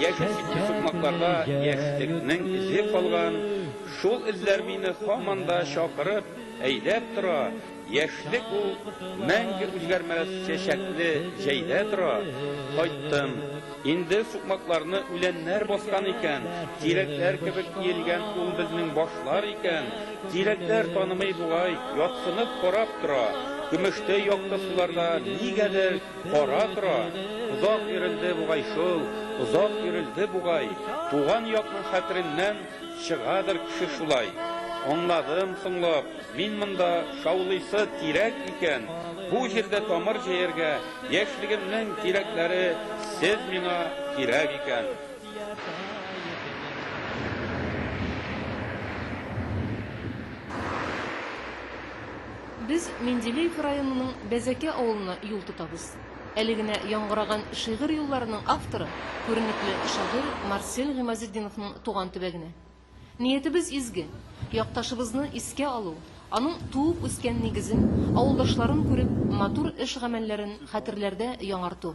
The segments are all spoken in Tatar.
Яшь үсемче сукмакларда яшьлекнең эзе калган, шул эзләр мине һаман да чакырып, әйдәп тора, яшьлек ул мәңге үзгәрмәс чәчәкле җәйдә тора, кайттым, инде сукмакларны үләннәр баскан икән, тирәкләр кебек иелгән ул безнең башлар икән, тирәкләр танымый бугай, ятсынып карап тора, көмештәй якты суларда нигәдер Ара-тора, озак йөрелде бугай шул, озак йөрелде бугай, туган якның хәтереннән чыгадыр кеше шулай. Аңладым соңлап, мин монда шаулыйсы тирәк икән, бу җирдә тамыр җәяргә яшьлегемнең тирәкләре сез миңа кирәк икән. Без Менделеев районының Бәзәкә авылына юл тотабыз. Әле генә яңгыраган шигырь юлларының авторы, күренекле шагыйрь Марсель Гыймазетдиновның туган төбәгенә. Ниятебез изге, якташыбызны искә алу, аның туып-үскән нигезен, авылдашларын күреп, матур эш-гамәлләрен хәтерләрдә яңарту.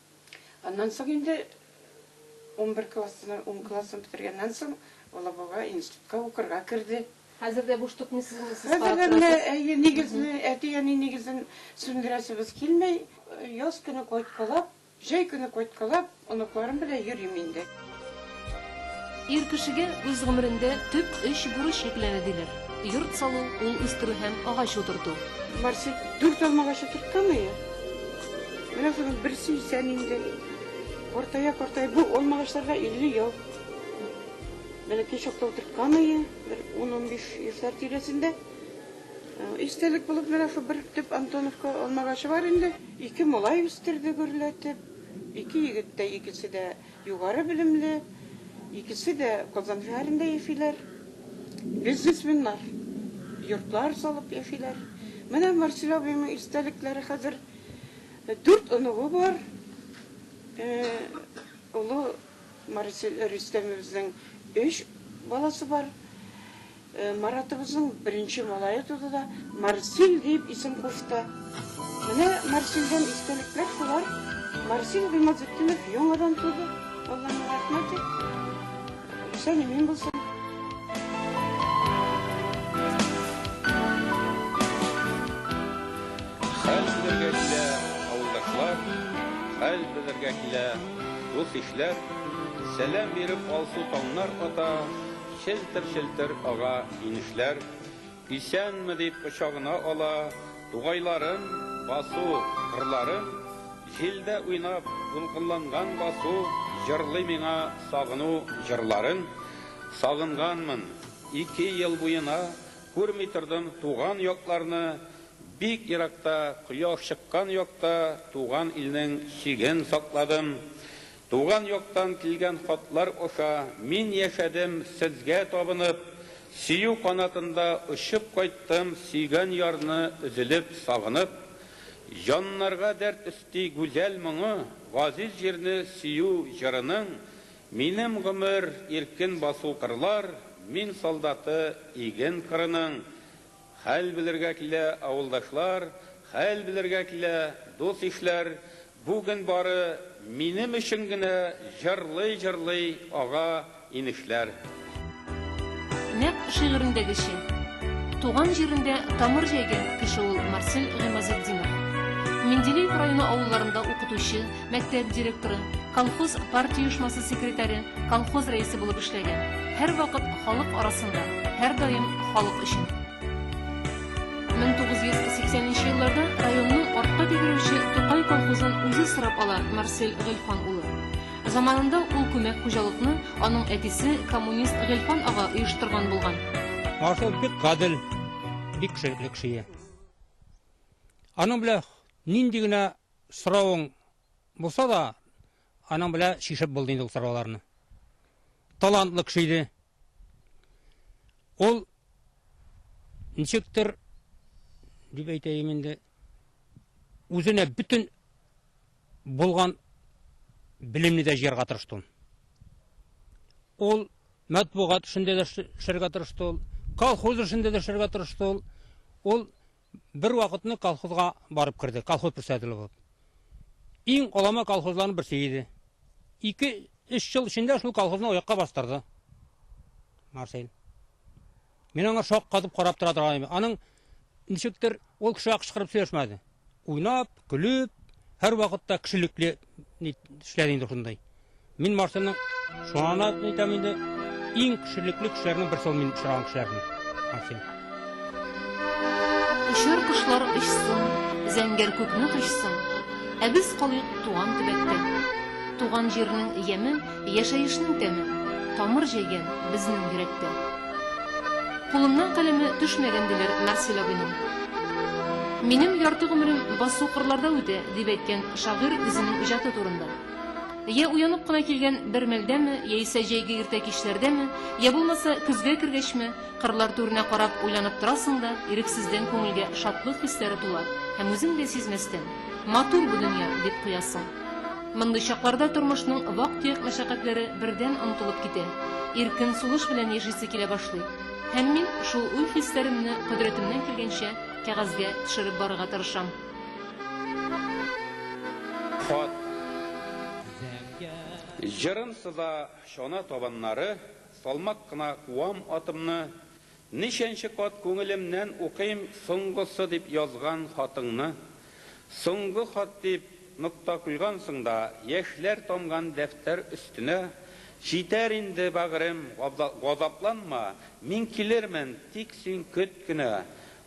Аннан соң инде унбер классына, ун классын бетергәннән соң Алабуга институтка укырга керде. Хәзер дә буш тотмыйсызмы, сез карап Хәзер әле, торасыз? әйе, нигезне, әти-әни нигезен сүндерәсебез килми. Яз көне кайткалап, җәй көне кайткалап, оныкларым белән йөрим инде. Ир кешегә үз гомерендә төп өч бурыч йөкләнә диләр. Йорт салу, ул үстерү һәм агач утырту. Барсы дүрт алмагач утыртканмые? Менә шуның берсе исән инде. Картая картая, бу алмагачларга 50 ел. Бәләкәй чакта утыртканмые, бер ун-унбиш яшьләр тирәсендә. Истәлек булып менә шул бер төп Антоновка алмагачы бар инде. Ике малай үстерде гөрләтеп. Ике егет тә, икесе дә. Югары белемле, икесе дә Казан шәһәрендә яшиләр. Бизнесменнар, йортлар салып яшиләр. Менә Марсель абыйның истәлекләре хәзер дүрт оныгы бар. Олы Марсель Рөстәмебезнең өч баласы бар. Маратыбызның беренче малае туды да, Марсель диеп исем кушты. Менә Марсельдән истәлекләр шулар. Марсель Гыймазетдинов яңадан туды. Аллаһның рәхмәте. Исән-имин булсын. Хәл белергә килә, авылдашлар. Хәл белергә килә, дус-ишләр. Сәлам биреп алсу таңнар ата. Челтер-челтер ага инешләр, Исәнме дип кочагына ала, Тугайларын, басу, кырларын, Җилдә уйнап, дулкынланган басу, Җырлый миңа сагыну җырларын. Сагынганмын, ике ел буена Күрми тордым туган якларны, Бик еракта, кояш чыккан якта Туган илнең чиген сакладым. Туган яктан килгән хатлар аша мин яшәдем сезгә табынып, Сөю канатында очып кайттым сөйгән ярны өзелеп, сагынып. Җаннарга дәрт өсти гүзәл моңы, газиз җирне сөю җырының, Минем гомер, иркен басу кырлар, мин солдаты иген кырының. Хәл белергә килә, авылдашлар, хәл белергә килә, дус-ишләр, бүген бары минем өчен генә җырлый-җырлый ага инешләр. Нәкъ шигырендәгечә, туган җирендә тамыр җәйгән кеше ул Марсель Гыймазетдинов. Менделеев районы авылларында укытучы, Мәктәп директоры, колхоз партия оешмасы секретаре, колхоз рәисе булып эшләгән. Һәрвакыт халык арасында, һәрдаим халык өчен. 1980 нче елларда районның артка тәгәрәүче Тукай колхозын үзе сорап ала Марсель Гыйльфан улы. Заманында ул күмәк хуҗалыкны аның әтисе коммунист Гыйльфан ага оештырган булган. Марсель бик гадел, бик кешелекле кеше иде. Аның белән нинди генә Соравың булса да, аның белә чишеп булды инде ул сорауларны. Талантлы кеше иде. Ул ничектер дип әйтәем инде, үзенә бөтен булган белемне дә җыярга тырышты. Ул матбугат эшендә дә эшләргә тырышты ул, колхоз эшендә дә эшләргә тырышты ул. Ул Бер вакытны колхозга барып кердек, колхоз председателе булып. Иң алама колхозларның берсе иде. Ике, өч ел эчендә шул колхозны аякка бастырды Марсель. Мин аңа шаккатып карап тора торган идем. Аның ничектер ул кешегә кычкырып сөйләшмәде. Уйнап, көлеп, һәрвакытта кешелекле Ни эшләр инде шундай. Мин машина шуңа әйтәм инде, иң кешелекле кешеләрнең берсе мин очраган кешеләрнең. Максим. Очар кошлар очсын, зәңгәр күкне тошсын, ә без калыйк туган төбәктә. Туган җирнең яме Яшәешнең тәмен, тамыр җәйгән безнең йөрәктә. Кулымнан каләме төшмәгән, диләр Марсель абыйның. Минем ярты гомерем басу кырларда үтә, дип әйткән шагыйрь үзенең иҗаты турында. Йә уянып кына килгән бер мәлдәме, яисә җәйге иртә кичләрдәме, йә булмаса көзгә кергәчме, кырлар түренә карап уйланып торасың да, ирексездән күңелгә шатлык хисләре тула һәм үзең дә сизмәстән, Матур бу дөнья! дип куясың. Мондый чакларда тормышның вак-төяк мәшәкатьләре бердән онытылып китә, иркен сулыш белән яшисе килә башлый. Һәм мин шул уй-хисләремне кодрәтемнән килгәнчә кәгазьгә төшереп барырга тырышам. Хат. Җырым сыза чана табаннары, Салмак кына куам атымны, Ничәнче кат күңелемнән укыйм соңгысы дип язган хатыңны. Соңгы хат дип нокта куйгансың да, яшьләр тамган дәфтәр өстенә, Җитәр инде, бәгърем, газапланма, мин килермен, тик син көт кенә.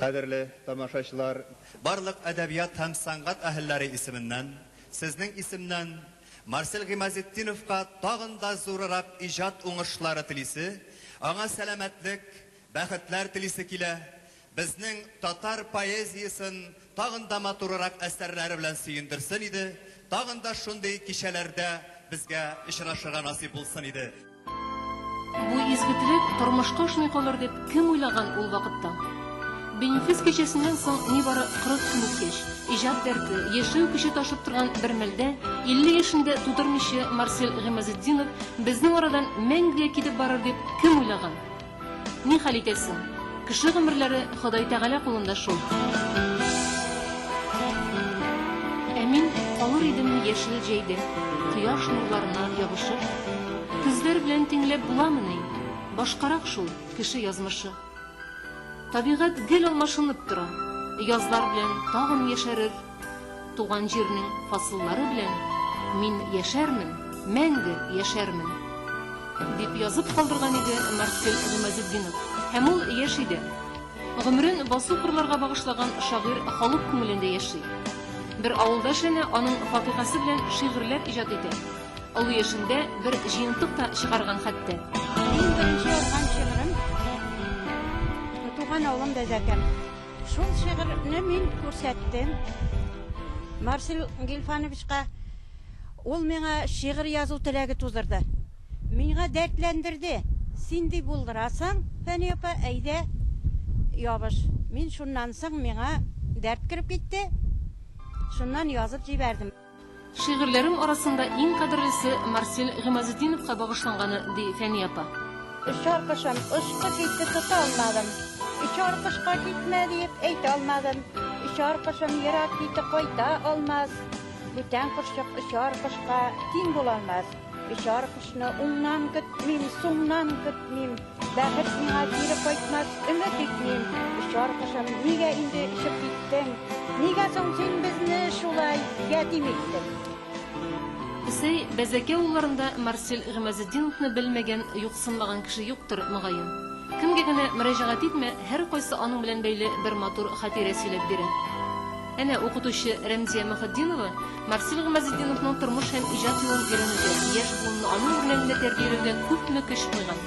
Кадерле тамашачылар! Барлык әдәбият һәм сәнгать әһелләре исеменнән, сезнең исемнән Марсель Гыймазетдиновка тагын да зурырак иҗат уңышлары телисе, аңа сәламәтлек, бәхетләр телисе килә, Безнең татар поэзиясен тагын да матурырак әсәрләре белән сөендерсен иде, тагын да шундый кичәләрдә безгә очрашырга насыйп булсын иде. Бу изге теләк тормышка ашмый калыр дип кем уйлаган ул вакытта? Бенефис кичәсеннән соң нибары 40 көн үткәч, иҗат дәрте, яшәү көче ташып торган бер мәлдә, 50 яшен дә тутырмыйча Марсель Гыймазетдинов безнең арадан мәңгегә китеп барыр дип кем уйлаган? Ни хәл итәсең? Кеше гомерләре Ходай Тәгалә кулында шул. Ә мин калыр идем яшел җәйдә, кояш нурларына ябышып. Көзләр белән тиңләп буламыни? Башкарак шул кеше язмышы. Табигать гел алмашынып тора, язлар белән тагын яшәрер. Туган җирнең фасыллары белән мин яшәрмен, мәңге яшәрмен! дип язып калдырган иде Марсель Гыймазетдинов. Һәм ул яшь иде. Гомерен басу-кырларга багышлаган шагыйрь халык күңелендә яши. Бер авылдаш әнә аның факыйгасы белән шигырьләр иҗат итә. Олы яшендә бер җыентык та чыгарган хәтта. Минем беренче язган шигырем, Туган авылым Бәзәкәм. Шул шигырьне мин күрсәттем Марсель Гильфановичка. Ул миңа шигырь язу теләге тудырды. Миңа дәртләндерде. Син ди булдырасың, Фәния апа, әйдә, ябыш. Мин шуннан соң миңа дәрт кереп китте. Шуннан язып җибәрдем. Шигырьләрем арасында иң кадерлесе Марсель Гыймазетдиновка багышланганы, ди Фәния апа. Очар кошым, очкы китте, тота алмадым. Очар кошка китмә диеп әйтә алмадым. Очар кошым ерак китте, кайта алмас. Бүтән кошчык очар кошка тиң булалмас. Очар кошны уңнан көтмим, сумнан көтмим, Бәхет миңа кире кайтмас, өмет итмим. Очар кошым, нигә инде ишеп киттең? Нигә соң син безне шулай ятим иттең? Сей, Бәзәкә улларында Марсель Гимазетдиновны белмәгән, юксынмаган кеше юктыр, мөгаен. Кемгә генә мөрәҗәгать итмә, һәркайсы аның белән бәйле бер матур хатирә сөйләп бирә. Әнә укытучы Рәмзия Мөхетдинова Марсель Гамазетдиновның тормыш һәм иҗат юлын өйрәнүдә, яшь буынны аның үрнәгендә тәрбияләүдә күпме көч куйган.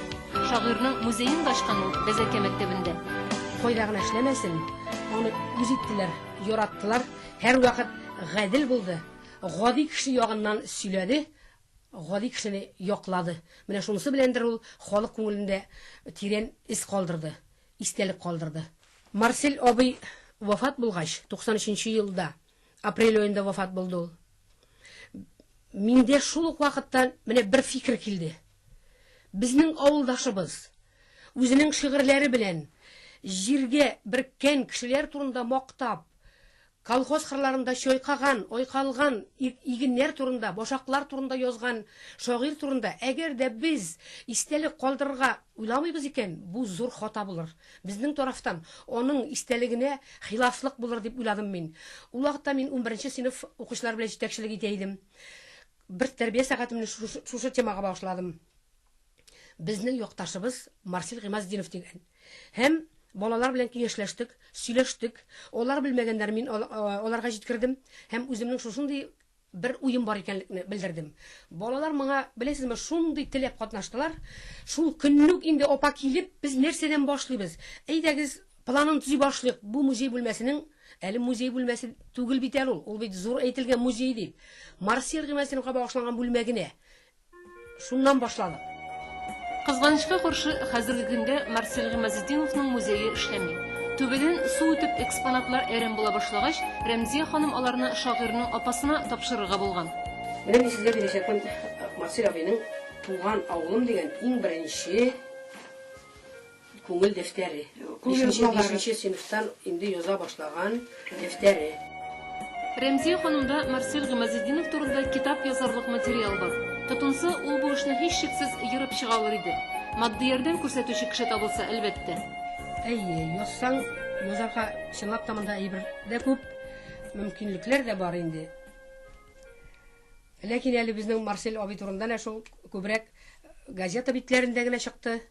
Шагыйрьнең музеен да ачкан ул Бәзәкә мәктәбендә. Кайда гына эшләмәсен, аны үз иттеләр, яраттылар, һәрвакыт гадел булды, гади кеше ягыннан сөйләде, гади кешене яклады. Менә шунысы беләндер ул халык күңелендә тирән эз калдырды. истәлек калдырды. Марсель абый вафат булгач, 93 нче елда, апрель аенда вафат булды ул, миндә шул ук вакытта менә бер фикер килде. Безнең авылдашыбыз, үзенең шигырьләре белән җиргә берккән кешеләр турында мактап, Колхоз кырларында чайкаган, айкалган игеннәр турында, башаклар турында язган шагыйрь турында әгәр дә без истәлек калдырырга уйламыйбыз икән, бу зур хата булыр. Безнең тарафтан аның истәлегенә хилафлык булыр дип уйладым мин. Ул вакытта мин унберенче сыйныф укучылары белән җитәкчелек итә идем. Бер тәрбия сәгатемне шушы темага багышладым. Безнең якташыбыз Марсель Гыймазетдинов дигән. Һәм балалар белән киңәшләштек, сөйләштек. Алар белмәгәннәрен мин аларга җиткердем һәм үземнең шушындый бер уем бар икәнлекне белдердем. Балалар моңа, беләсезме, шундый теләп катнаштылар. Шул көнне үк инде апа килеп, без нәрсәдән башлыйбыз? Әйдәгез, планын төзи башлыйк, бу музей бүлмәсенең, әле музей бүлмәсе түгел бит әле ул, ул бит зур әйтелгән музей, дип, Марсель Гыймазетдиновка багышланган бүлмә генә Шуннан башланып. Кызганычка каршы, хәзерге көндә Марсель Гыймазетдиновның музее эшләми. Түбәдән су үтеп, экспонатлар әрәм була башлагач, Рәмзия ханым аларны шагыйрьнең апасына тапшырырга булган. Менә мин сезгә бирәчәкмен Марсель абыйның Туган авылым дигән иң беренче. Күңел дәфтәре. Бишенче бишенче сыйныфтан инде яза башлаган дәфтәре. Рәмзия ханымда Марсель Гыймазетдинов турында китап язарлык материал бар. Тотынса, ул бу эшне һичшиксез ерып чыга алыр иде. Матди ярдәм күрсәтүче кеше табылса, әлбәттә. Әйе, язсаң, язарга чынлап та монда әйбер дә күп, мөмкинлекләр дә бар инде. Ләкин әле безнең Марсель абый турында нә шул күбрәк газета битләрендә генә чыкты.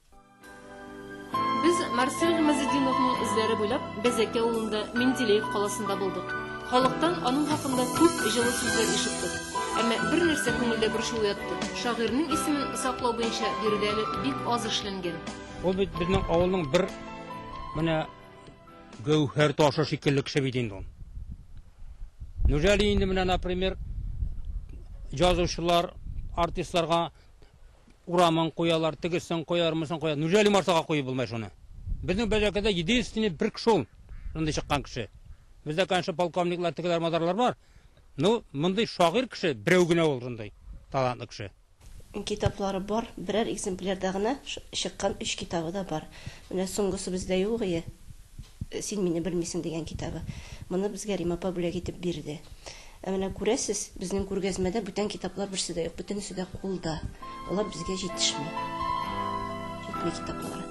Без Марсель Гамазетдиновның эзләре буйлап Бәзәкә авылында Менделеев каласында булдык. Халыктан аның хакында күп җылы сүзләр ишеттек. Әмма бер нәрсә күңелдә борчу уятты, шагыйрьнең исемен саклау буенча биредә әле бик аз эшләнгән. Ул бит безнең авылның бер менә гәүһәр ташы шикелле кеше бит инде ул. Неужели инде менә, например, язучылар, артистларга Урамын куялар, тегесен куялар, монысын куялар. Неужели Марсага куеп булмай шуны? Безнең Бәҗәкәдә единственный бер кеше ул. Шундый чыккан кеше. Бездә, конечно, полковниклар, тегеләр, мазарлар бар. Ну, мондый шагыйрь кеше берәү генә ул шундый талантлы кеше. Китаплары бар, берәр экземплярда гына чыккан өч китабы да бар. Менә соңгысы бездә юк ие, Син мине белмисең дигән китабы. Моны безгә Рим апа бүләк итеп бирде. Ә менә күрәсез, безнең күргәзмәдә бүтән китаплар берсе дә юк, бөтенесе дә кулда. Алар безгә җитешми. Җитми китаплары.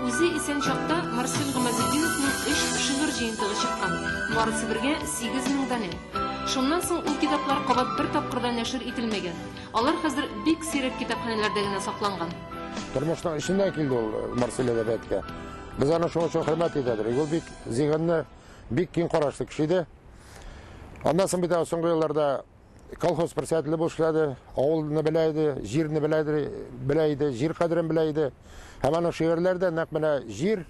Үзе исән чакта Марсель Гамазетдиновның өч шигырь җыентыгы чыккан, барысы бергә сигез мең данә. Шуннан соң ул китаплар кабат бер тапкыр да нәшер ителмәгән. Алар хәзер бик сирәк китапханәләрдә генә сакланган. Тормышның эченнән килде ул Марсель әдәбиятка. Без аны шуның өчен хөрмәт итәбез. Ул бик зиһенле, бик киң карашлы кеше иде. Аннан соң бит ә соңгы елларда колхоз председателе булып эшләде, авылны белә иде, җирне белә иде, белә иде, җир кадерен белә иде. Һәм аның шигырьләре дә нәкъ менә җир,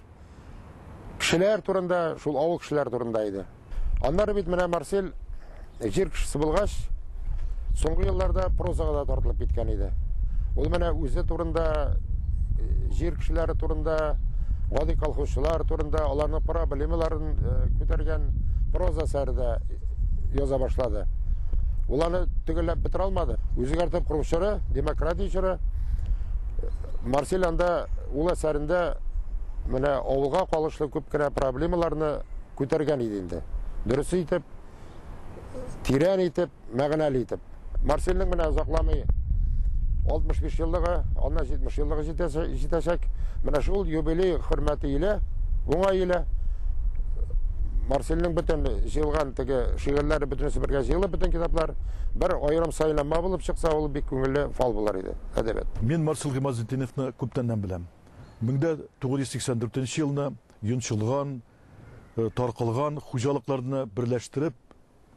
кешеләр турында, шул авыл кешеләре турында иде. Аннары бит менә Марсель җир кешесе булгач, Соңгы елларда прозага да тартылып киткән иде. Ул менә үзе турында, э, җир кешеләре турында, гади колхозчылар турында, аларның проблемаларын э, күтәргән проза сәрдә яза башлады. Ул аны төгәлләп бетерә алмады. Үзгәртеп курчыры, демократия чоры. Марсель анда ул әсәрендә менә авылга калышлы күп кенә проблемаларны күтәргән иде инде. Дөрес итеп тирән итеп, мәгънәле итеп. Марсельнең менә озакламый 65 еллыгы, аннан 70 еллыгы җитәчәк. Менә шул юбилей хөрмәте иле, уңай иле. Марсельнең бөтен җыелган теге шигырьләре бөтенесе бергә җыелып бөтен китаплар бер аерым сайланма булып чыкса, ул бик күңелле фал булар иде. Әдәбият. Мин Марсель Гыймазетдиновны күптәннән беләм. 1984 елны Йончылган, Таркалган хуҗалыкларны берләштереп,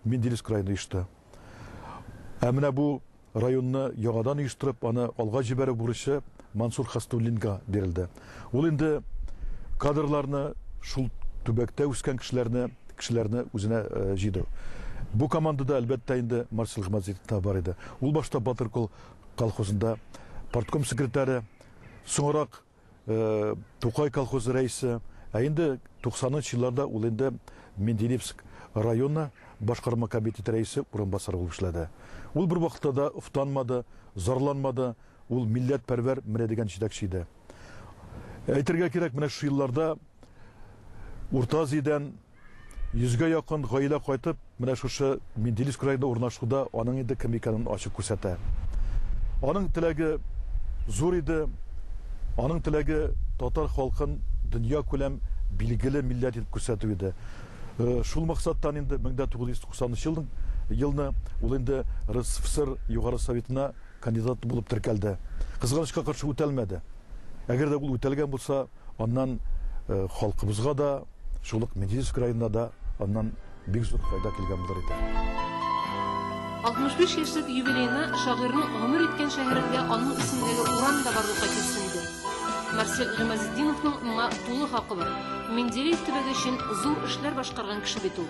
Менделевск краен оешты. Ә менә бу районны яңадан оештырып, аны алга җибәрү бурычы Мансур Хәснуллинга бирелде. Ул инде кадрларны, шул төбәктә үскән кешеләрне, кешеләрне үзенә җыйды. Бу командада, әлбәттә инде, Марсель Гамазетдин да бар иде. Ул башта Батыр кол колхозында партком секретаре, соңрак Тукай колхозы рәисе, ә инде 90 нчы елларда ул инде Менделевск районы башкарма комитеты рәисе урынбасары булып эшләде. Ул бервакытта да офтанмады, зарланмады, ул милләтпәрвәр менә дигән җитәкче иде. Әйтергә кирәк, менә шушы елларда Урта Азиядән Йөзгә якын гаилә кайтып, менә шушы Менделиск краенда урнашуда аның инде кем икәнен ачык күрсәтә. Аның теләге зур иде, аның теләге татар халкын дөньякүләм билгеле милләт итеп күрсәтү иде. Шул максаттан инде 1990 нчы елның елны ул инде РСФСР Югары Советына кандидат булып теркәлде. Кызганычка каршы, үтәлмәде. Әгәр дә ул үтәлгән булса, Аннан халкыбызга да, шул ук Менделеевск краена да аннан бик зур файда килгән булыр иде. 65 яшьлек юбилеена шагыйрьнең гомер иткән шәһәрендә аның исемендәге урам да барлыкка килсен иде. Марсель Гыймазетдиновның моңа тулы хакы бар. Менделеев төбәге өчен зур эшләр башкарган кеше бит ул.